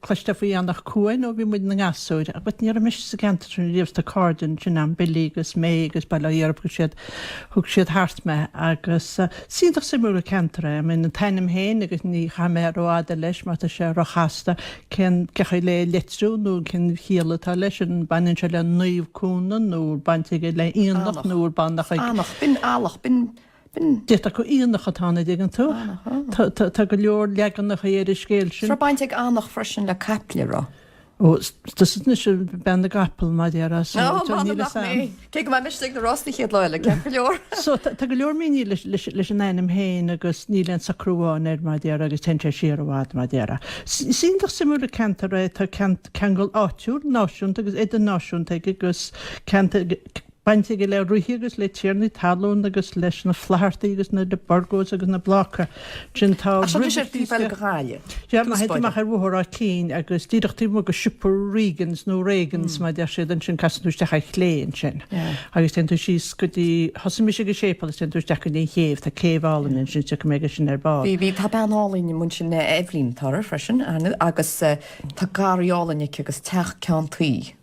Cloisteáil faoi Anach Cuain ó bhí muid ina ngasúir, but ní raibh mise sa gceantar sin riamh is tá cairde ansin a'm, Billy agus May agus bail ó Dhia orthub, siad, thug siad thart mé agus is iontach suimiúil an ceantar é. I mean an t-ainm féin agus ní chaithfidh mé rófhada leis mar tá sé róchasta cén, cé chaoi le é a litriú nó cén chiall atá leis, an baineann sé le Naomh Cuana nó an baint aige le aonach nó an baineann sé le. Anach, b'in eallach, b'in. B'in. D'fhéadfadh gur aonach atá ann, an dtuigeann tú. Tá go leor leaganacha ar an scéal sin. Raibh baint ag aonach freisin le caiple, an raibh. Ó, tusa anois, bean na gcapall, mar a déarfá, so níl fhios a'm. Ach mé, cé go mbeidh mise ag na rásaí chéad lá eile, ceart go leor. So tá go leor míniú leis an ainm féin agus níl aon socrú amháin air, mar a déarfá, agus téann sé siar i bhfad, mar a déarfá. Is iontach suimiúil an ceantar é, tá ceangal áitiúil, náisiúnta agus idirnáisiúnta aige agus ceantar. baint aige le ríthe agus le tiarnaí talún agus leis na Flathartaigh agus na de Burgos agus na Blácaigh. Ansin tá Ach seo anois ar taobh eile den bhaile. Sea, ach má théann tú amach ar Bhóthar Áth Cinn agus díreach taobh amuigh de siopa Regans, nó Reagans mar a deir siad, ansin casann tú isteach ar chlé ansin agus téann tú síos go dtí, thosaigh mise ag an séipéal is téann tú isteach go dtí an chéibh, tá céibh álainn ansin, is tiocfaidh mé aige sin ar ball. Bhí, tá bean álainn amuigh ansin, Eibhlín, atá uirthi freisin, tá garraí álainn aici agus teach ceann tuí.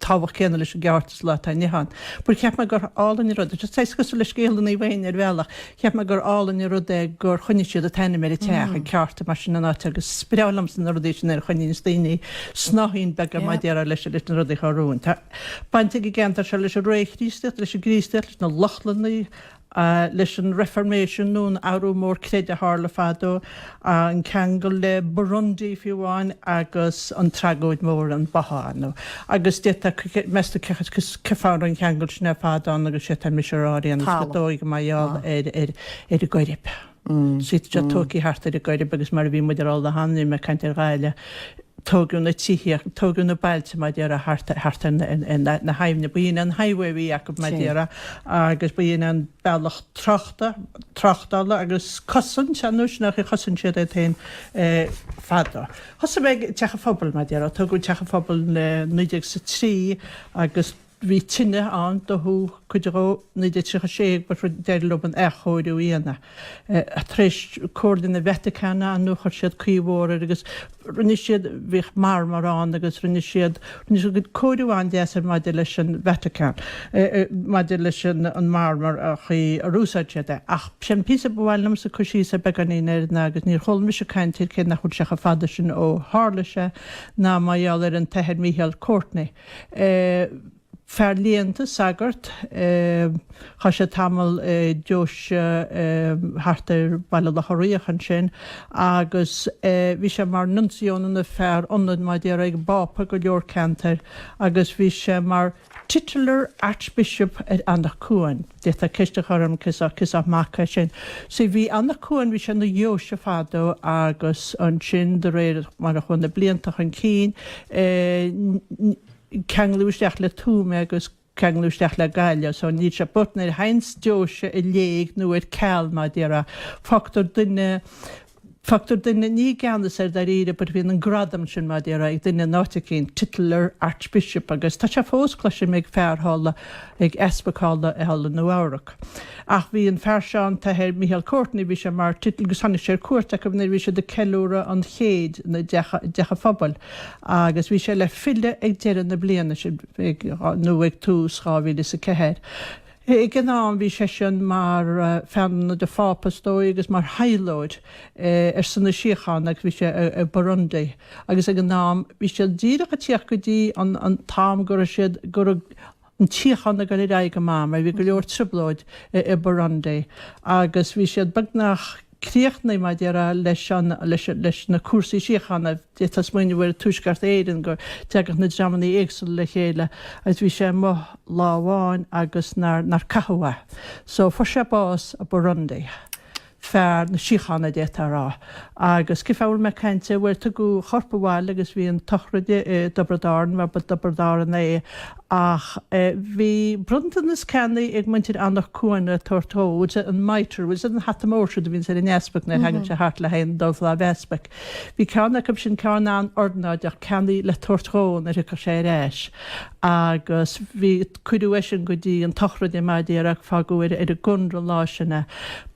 tábhacht céanna leis an gceárta sa lá atá inniu ann. But cheap mé gur álainn an rud, just saghas cosúil le scéal an Naomh Éinne ar bhealach, cheap mé gur álainn an rud é gur choinnigh siad an t-ainm ar an teach, an ceárta mar sin an áit agus is breá liomsa na rudaí sin nuair a choinníonns daoine snáithín beaga mar a déarfá leis leis na rudaí a chuaigh romhainn. Tá baint ag an gceantar seo leis an réamh-Chríostaíocht, leis an gCríostaíocht, leis na Lochlannaigh, leis an Reifirméisean nó an Athrú Mór Creidimh a tharla fadó, an ceangal le Burundi fiú amháin agus an tragóid mhór an báthadh ann. Agus d'fhéadfadh, meastar cé fáth a raibh an ceangal sin ar fad ann agus sé atá mise a rá ar aon nós gur dóigh gur mar gheall ar an gCoirib. Suite is tógtha thart ar an gCoirib agus mar a bhí muid a rá an lá cheana agus mé ag caint ar Ghaillimh, tógadh na tithe, tógadh na bailte mar déarfá thart, thart ar na, ar na, na haibhne. Ba shin an highway a bhí acu mar déarfá agus ba shin an bealach tráchta, tráchtála agus cosaint, ar nós an chaoi ar chosain siad iad féin fadó. Thosaigh mé ag, Teach an Phobail mar déarfá, tógadh Teach an Phobail i naoi déag is a trí agus, Bhí tine ann dódh cuid dhó 1936 but d'éirigh leob an athchóiriú a dhéanamh. Tar éis Comhairle na Vatacáine ann chuir siad caoi mhór air agus rinne siad, bhíodh marmar ann agus rinne siad, rinne siad cuid cóiriú an-deas air maidir leis an Vatacán, maidir leis an marmar, an chaoi ar úsáid siad é. Ach b'shin an píosa ba mhaith liomsa cur síos ar beagáinín air ná, agus níor chuala mise caint air cé nach bhfuil sé chomh fada sin ó tharla sé, ná mar gheall ar an tAthair Micheál Courtney. é fear léannta, sagart, chaith sé tamall i deoise thart ar Bhaile Locha Riach ansin agus bhí sé mar Nuncio nó fear ionaid mar a déarfá ag an bPápa i go leor ceantair agus bhí sé mar titular Archbishop ar Anach Cuain. D'fhéadfá ceist a chur orm cén sórt, cén sórt mac é sin. So, bhí Anach Cuain, bhí sé ina dheoise fadó agus ansin de réir mar a chuaigh na blianta chun cinn eh, ceangladh isteach le Tuaim agus ceangladh isteach le Gaillimh so níl sé but nuair a théanns deoise i léig nó ar ceal mar a déarfá. Fágtar duine Fágtar duine ní i gceannas air dáiríre but bíonn an gradam sin, mar a déarfá, ag duine in áit eicínt, titular archbishop agus tá sé fós, cloisim, ag fear thall, ag easpag thall i thall i Nua-Eabhrac. Ach bhí an fear seo, an tAthair Michael Courtney, bhí sé mar titular agus tháinig sé ar cuairt acu nuair a bhí siad ag ceiliúradh an chéid i dteach a' phobail agus bhí sé le filleadh ag deireadh na bliana sin nó ag tús dhá mhíle is a ceathair. Ag an am bhí seisean mar fear ionaid an Phápa, is dóigh, agus mar thaidhleoir ar son na síochána agus bhí sé i Burundi agus ag an am bhí siad díreach ag tíocht go dtí an t-am go raibh siad, go raibh an tsíocháin ag dul ar aghaidh go maith mar bhí go leor trioblóid i Burundi agus bhí siad beagnach. críochnaithe mar a déarfá leis an leis leis na cúrsaí síochána. D'fhéadfá smaoineamh ar Thuaisceart Éireann go dteagadh na dreamanna éagsúla le chéile agus bhí sé amuigh lá amháin agus nár nár caitheadh é. So fuair sé bás i Burundi. Fear na síochána d'fhéadfá a rá. Agus cén fáth a bhfuil mé ag caint air? Bhuel tugadh a chorp abhaile agus bhí an tsochraide i dTiobraid Árann mar ba Tiobraid Árannach é Ach bhí bronntanas ceannaithe ag muintir Anach Cuain le tabhairt dhó, bhfuil a fhios agat an mitre, bhfuil a fhios agat an hata mór siúd a bhíonns ar an easpag nuair a thagann sé thart le haghaidh an dul faoi lámh easpaig. Bhí ceann acu sin ceann an-ornáideach ceannaithe le tabhairt dhó nuair thiocfadh sé ar ais agus bhí cuireadh é sin go dtí an tsochraide mar a déarfá agus fágadh ar an gcónra an lá sin é.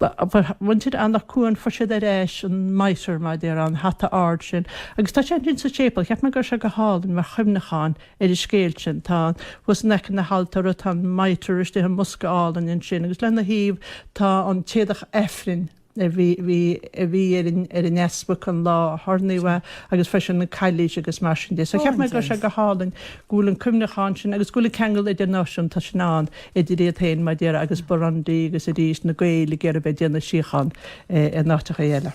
Fuair muintir Anach Cuain, fuair siad ar ais an mitre mar a déarfá, an hata ard sin, agus tá sé ansin sa séipéal. Cheap mé go raibh sé go hálainn mar chuimhneachán. ar an scéal sin. Tá an, thuas in aice na haltóra tá an Mitre istigh i mbosca álainn ansin agus lena thaobh tá an t-éadach Aifrinn a bhí, bhí, a bhí ar an, ar an easpag an lá a hoirníodh é agus freisin an cailís agus mar sin de. So cheap mé go raibh sé go hálainn go bhfuil an cuimhneachán sin agus go bhfuil an ceangal idirnáisiúnta sin ann idir iad féin mar a déarfá agus Burundi agus arís na Gaeil ag iarraidh a bheith ag déanamh síochán in áiteachaí eile.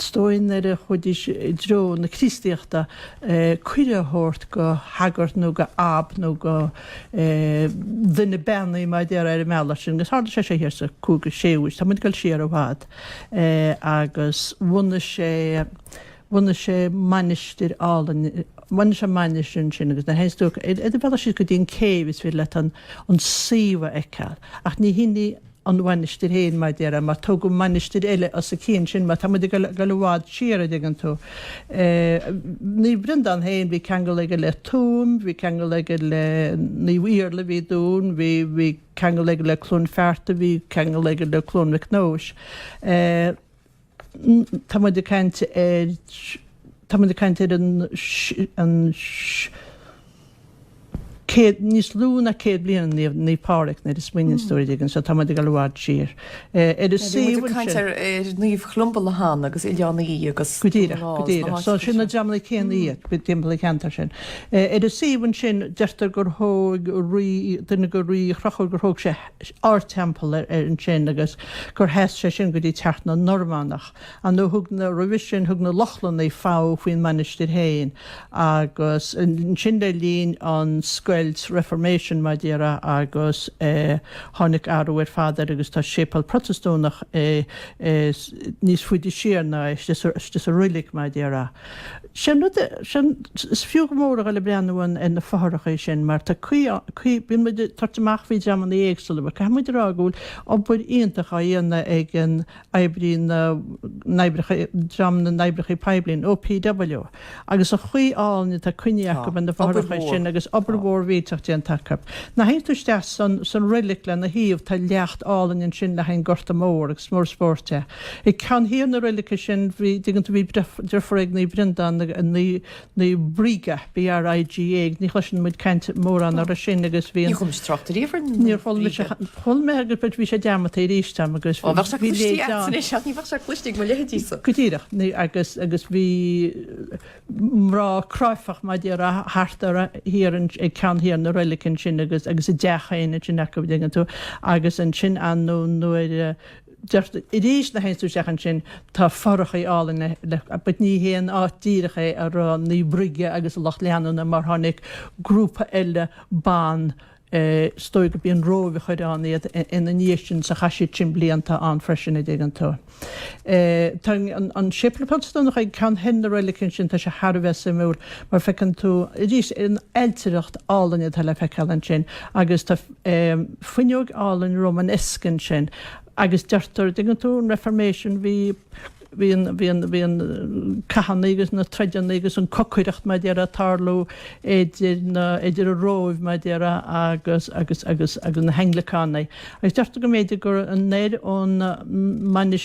Is dóigh nuair a chuaidís i dtreo na Críostaíochta cuireadh a thabhairt go shagart nó go Ab nó go duine beannaithe mar a déarfá ar an mbealach sin agus tharla sé seo thiar sa 5ú 6ú aois, tá muid ag dul siar i bhfad, agus bhunaigh sé, bhunaigh sé mainistir álainn, bhunaigh sé an mainistir ansin agus nuair a théanns tú ar do bhealach síos go dtí an céibh is féidir leat an suíomh a fheiceáil ach ní hin í an. an mhainistir féin mar a déarfá, mar tógadh mainistir eile os a cionn sin, mar tá muid ag dul i bhfad siar, an dtuigeann tú. Naomh Breandán féin, bhí ceangal aige le Tuaim, bhí ceangal aige le Naomh Iarlaith a bhí i dTuaim, bhí, bhí ceangal aige le Cluain Fearta, bhí ceangal aige le Cluain Mhic Nóis. Tá muid ag caint ar, tá muid ag caint ar an, an, céad, níos lú ná céad bliain i ndiaidh Naomh Pádraig nuair a smaoiníonns tú air, an dtuigeann tú, so tá muid ag dul i bhfad siar. Ar an suíomh anseo. Bhí muid ag caint ar, ar Naomh Cholumba Laighean agus Oileán Í agus. Go díreach, go díreach. So sin na dreamanna céanna iad, go timpeall an cheantair sin. Ar an suíomh ansin deirtear gur thóg rí, duine de rí Chonchúir, gur thóg sé ardteampall air ansin agus gur sheas sé sin go dtí teacht na Normannach. An nó thug na, roimhe sin thug na Lochlannaigh fogha faoin mainistir féin agus ansin le linn an scoilt, Reformation mar a déarfá, agus tháinig athrú ar fad air agus tá séipeal Protastúnach níos faide siar ná é, istigh sa, istigh sa reilig mar a déarfá. Sé an rud é, sin, is fiú go mór a dhul ag breathnú ar na fothracha sin mar tá caoi, caoi, bíonn muid ag tabhairt amach faoi dreamanna éagsúla but caithfidh muid a rá go bhfuil obair iontach á dhéanamh ag an oibrí na n-oibreacha, dream na n-oibreacha poiblí, an OPW, agus an chaoi álainn atá coinnithe acu ar na fothracha sin agus obair mhór mhílteach déanta acu. Nuair a théann tú isteach san, san reilig lena thaobh, tá leacht álainn ansin le haghaidh an Gorta Mór agus mór spóirt é. Ag ceann thiar na reilige sin an dtuigeann tú bhí deirfiúr ag Naomh Breandán, Naomh Briga, B-r-i-g-a, ní chloiseann muid caint mórán uirthi sin agus bhí an, Ní chuala mise trácht ariamh ar Naomh Bríga. Níor chuala mise, chuala mé agus but bhí sé dearmadta aríst am agus bhí, bhí léite am. Ó bheadh sé cloiste a'tsa anois ach ní bheadh sé cloiste ag mo leithéidísa. Go díreach, agus, agus bhí mná cráifeach mar a déarfá thart ar, thiar an, ag ceann thiar na reilige ansin agus, agus a dteach féin ansin acu, an dtuigeann tú, agus ansin anonn nuair a, arís nuair a théanns tú isteach ansin, tá fothracha álainn eile but ní hé an áit díreach é a raibh Naomh Bríga agus a lucht leanúna mar tháinig grúpa eile ban is dóigh gurb í an Róimh a chuir ann iad ina ndiaidh sin so chaith siad sin blianta ann freisin an dtuigeann tú. Tá an séipéal Protastúnach ag ceann thoir na reilige ansin, tá sé thar a bheith suimiúil mar feiceann tú arís an ailtireacht álainn atá le feiceáil ansin agus tá fuinneog álainn Romanesque ansin agus deirtear dtuigeann tú an Reformation bhí bhí an bhí an bhí an cathanna agus na troideanna agus an cocaireacht mar déarfá ag tarlú idir na idir an Róimh mar déarfá agus agus agus agus na hAnglacánaigh agus deirtear go mb'fhéidir gur anoir ón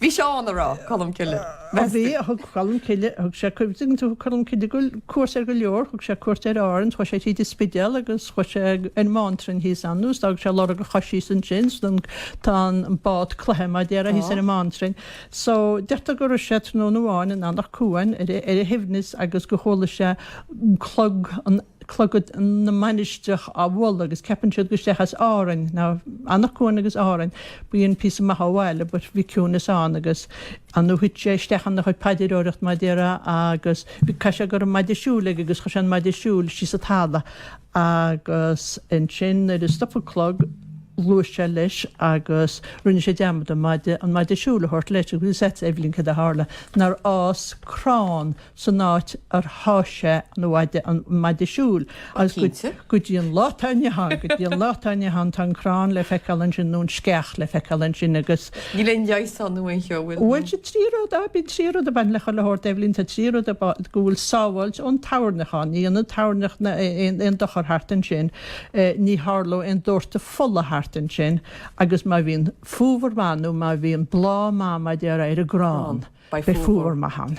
Bhí Seán a rá Colm Cille. Bhí, bhí, thug Colm Cille, thug sé cuid, tuigeann tú, thug Colm Cille go, cuairt ar go leor, thug sé cuairt ar Árainn, chuaigh sé tríd an Spidéal agus chuaigh sé ar an mBánrainn thíos ann, agus d'fhág sé lorg a chois thíos ansin, so then tá an bád cloiche mar a déarfá thíos ar an mBánrainn. So deirtear go raibh sé tráthnóna amháin in Anach Cuain ar a, ar a shuaimhneas agus gur chuala sé clog an, clog na mainistreach á bhualadh agus ceapann siad gur isteach as Árainn now Anach Cuain agus Árainn bíonn píosa maith ó bhaile but bhí ciúineas ann agus an nó thuit sé isteach ina chuid paidreoireacht mar a déarfá agus bhí caithfidh sé go raibh an maide siúil aige agus chuir sé an maide siúil síos sa talamh agus ansin nuair a stop an clog ghluais sé leis agus rinne sé dearmad an maide an maide siúil a thabhairt leis agus that's Eibhlín céard a tharla nár fhás crann san áit ar sháith sé an maide, an maide siúil, agus go, go dtí an lá atá inniu ann, go dtí an lá atá inniu ann tá an crann le feiceáil ansin nó an sceach le feiceáil ansin agus. Níl aon leigheas ann nó aon cheo, bhfuil? Bhuel tá trí rud ann, bíonn trí rud a bhaineann le chuile shórt Eibhlín, tá trí rud a, go bhfuil sábháilt ón toirneach ann, ní dhéanann toirneach na, aon, aon dochar thart ansin, ní tharlóidh aon dórtadh fola thart ansin agus má bhíonn fómhar maith nó má bhíonn bláth maith, mar a déarfá, ar an gcrann. Beidh fómhar maith ann.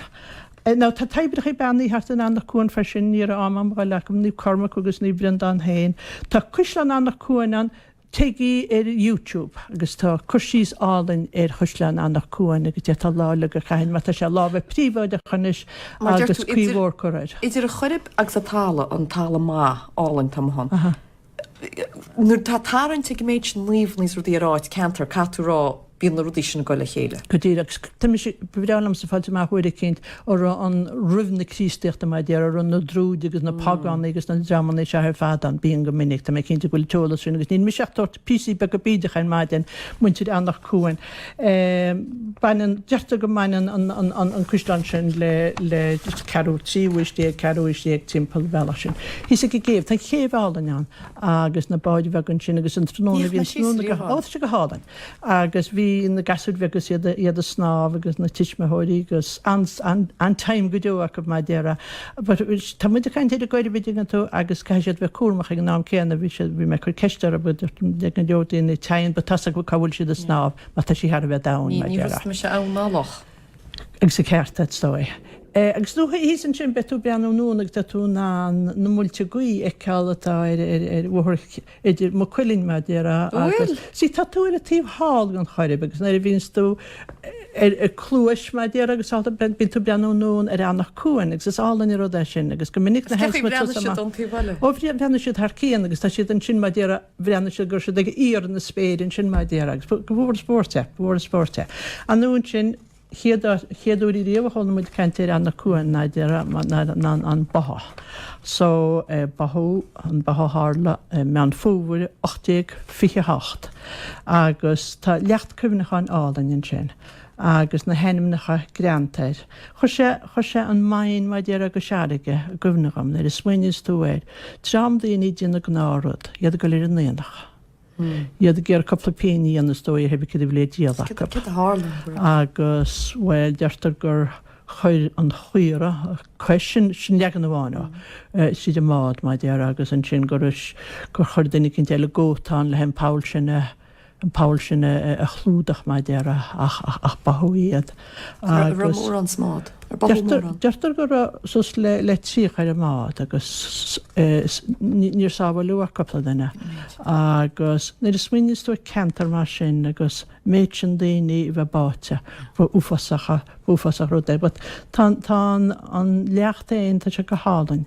Now tá toibreacha beannaithe thart in Anach Cuain freisin, ní raibh am a'm a dhul acu, Naomh Cormac agus Naomh Breandán féin. Tá Caisleán Anach Cuain ann, téigí ar YouTube agus tá cur síos álainn ar Chaisleán Anach Cuain agus d'fhéadfá lá uilig a chaitheamh ann mar tá sé i lámha príobháideacha anois agus caoi mhór curtha air. Idir an Choirib agus an talamh, an talamh maith, álainn, atá ansin. Nuair atá tarraingt ag an méid sin naomh is rudaí ar áit, ceantar, caithfidh tú rá bíonn na rudaí sin ag dul le chéile. Go díreach, agus tá mise, ba bhreá liomsa fáil amach uair eicínt an raibh ann roimh na Críostaíochta mar a déarfá, an raibh na druids agus na Págánaigh agus na dreamanna seo ar fad ann, bíonn go minic, tá mé cinnte go bhfuil an t-eolas sin agus níl mise ach ag tabhairt píosaí beaga bídeacha ar maidin, muintir Anach Cuain. Baineann, deirtear go mbaineann an caisleán sin le ceathrú, tríú aois déag, ceathrú aois déag timpeall an bhealach sin. Thíos ag an gcéibh, tá céibh álainn ann agus na báid bheaga ansin agus an tráthnóna bhí an tráthnóna go hálainn. Ó tá sé go hálainn agus bhí na gasúir bheaga agus iad ag snámh agus na tuismitheoirí agus an-time go deo acu mar a déarfá. Tá muid ag caint ar an gCoirib an dtuigeann tú agus caithfidh siad bheith cúramach ag an am céanna. Bhí siad, bhí mé ag cur ceist orthu, bhfuil dúirt ag go leor daoine téann but tá's acu cá bhfuil siad ag snámh mar tá sí thar a bheith domhain mar a déarfá. Ní thosaigh mise ann ná loch. Agus an ceart agat is dóigh. Agus nó thíos ansin beidh tú ag breathnú anonn agus tá tú in ann na muilte gaoithe a fheiceáil atá ar bhóthar idir Maigh Cuilinn mar déarfá agus, see tá tú ar an taobh thall den Choirib agus nuair a bhíonns tú ar a cluais mar déarfá agus all that bíonn tú ag breathnú anonn ar Eanach Cuain agus is álainn an rud é sin agus go minic na heights muid suas amach. Is cinnte go mbreathnaigh siad ón taobh eile. Ó bhí, bhreathnaigh siad thar cionn agus tá siad ansin mar déarfá bhreathnaigh siad go raibh siad ag íor na spéire ansin mar déarfá agus ba mhór an spóirt é, ba mhór an spóirt é. Anonn ansin. chéad áit, chéad uair riamh a chuala muid caint ar Eanach Cuain ná a déarfá ná an an báthadh so báthadh an báthadh tharla i Meán Fómhair 1828 agus tá leacht cuimhneacháin álainn ansin agus na hainmneacha greanta air. Chuir sé, chuir sé an Maighdin mar déarfá go Searraighe i gcuimhne dhom nuair a smaoiníos tú air, dream daoine déanamh gnáth rud, iad ag dul ar an aonach, iad ag iarraidh cúpla pingin a dhéanamh is dóigh cibé céard a bhí le díol acu. Cad a tharla go raibh. Agus, bhuel, deirtear gur chuir an chaora cois, sin sin leagan amháin ó, tríd an mbád, mar déarfá, agus ansin gur gur chuir duine eicínt eile, a gcóta ann, leis an poll sin a, an poll sin a chlúdach, mar déarfá, ach ach ach báthadh iad. Agus raibh mórán sa mbád? Deirtear go raibh suas le 30 ar an mbád agus níor sábháileadh ach cúpla duine. Agus nuair a smaoiníos tú ar cheantar mar sin agus méid sin daoine a bheith báite, ba uafásach, ba uafásach rud é. But tá an leacht féin, tá sé go hálainn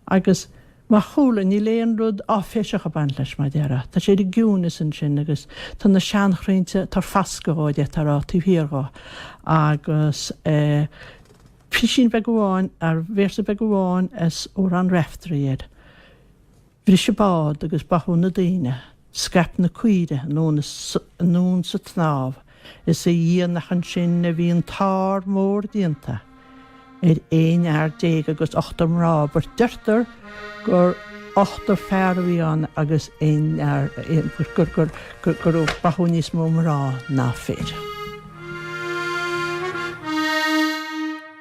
agus. Mar chúla, níl aon rud áiféiseach ag baint leis, mar déarfá. Tá sé ar an gciúineas ansin agus tá na seanchroinnte ag tabhairt fascadh dhó, a deirtear a, taobh thiar dhó. Agus eh. písín beag amháin ar véarsa beag amháin as amhrán Raiftearaí air. Bhris an bád agus báthadh na daoine. Scaip na caoire anonn sa tsnámh is a Dhia nach ansin a bhí an t-ár mór déanta ar aon fhear déag agus ochtar mná, but deirtear gur ochtar fear a bhí ann agus aon fhear, gur báthadh níos mó mná ná fir.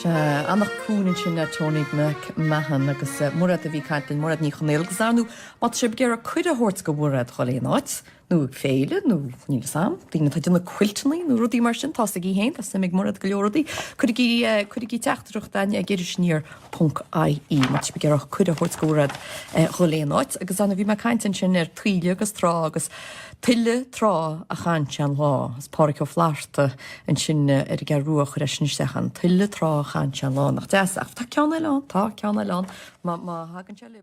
Sea, Eanach Cuain ansin le Tony Mac Mahon agus Muraed a bhí ag caint linn Muraed Ní Chonaola agus dar ndú, má tá sibh ag iarraidh cuireadh a thabhairt go Mhuraed dul aon áit, nó ag féile nó níl 'fhios a'm, daoine atá ag déanamh cuilteannaí nó rudaí mar sin, tá 'fhios agaibh fhéin, tá suim ag Muraed go leor rudaí, cuirigí, cuirigí teachtaireacht againn ag iris aniar ponc IE má tá sibh ag iarraidh cuireadh a thabhairt go Mhuraed dul aon áit agus Anna bhí mé ag caint ansin ar taoille agus trá agus Tuile trá a chaitheann sé an lá. Is Páraic Ó Flatharta ansin ar an gCeathrú Rua a chuir é sin isteach againn. Tuile trá a chaitheann sé an lá. Nach deas é? Ach tá ceann eile ann. Tá ceann eile ann. Má thagann sé.